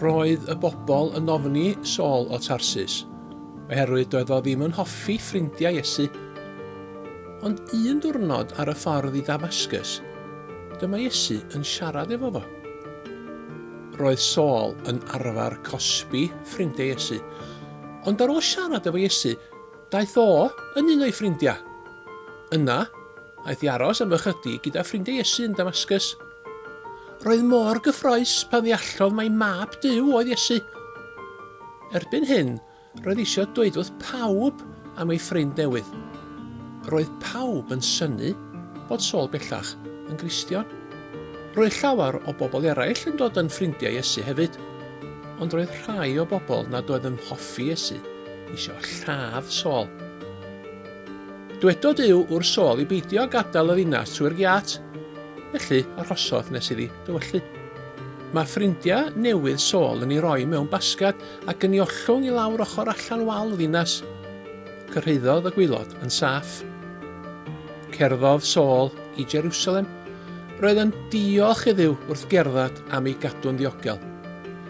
Roedd y bobl yn ofni Saul o Tarsus, oherwydd doedd o ddim yn hoffi ffrindiau Iesu. Ond un diwrnod ar y ffordd i Damascus, dyma Iesu yn siarad efo fo. Roedd Saul yn arfer cosbi ffrindiau Iesu, ond ar ôl siarad efo Iesu, Daeth o yn un o'i ffrindiau. Yna, aeth i aros am ychydig gyda ffrindiau Iesu yn Damascus. Roedd mor gyffroes pan ddeallodd mai Mab Duw oedd Iesu. Erbyn hyn, roedd eisiau dweud wrth pawb am ei ffrind newydd. Roedd pawb yn synnu bod Saul bellach yn Gristion. Roedd llawer o bobl eraill yn dod yn ffrindiau Iesu hefyd, ond roedd rhai o bobl nad oedd yn hoffi Iesu isio lladd Saul. Dwedodd Duw wrth Saul i beidio â gadael y ddinas trwy'r giat, felly arhosodd nes iddi dywyllu. Mae ffrindiau newydd Saul yn ei roi mewn basgad ac yn ei ollwng i lawr ochr allan wal y ddinas. Cyrhaeddodd y gwaelod yn saff. Cerddodd Saul i Jerusalem. Roedd yn diolch iddiw wrth gerdded am ei gadw'n ddiogel.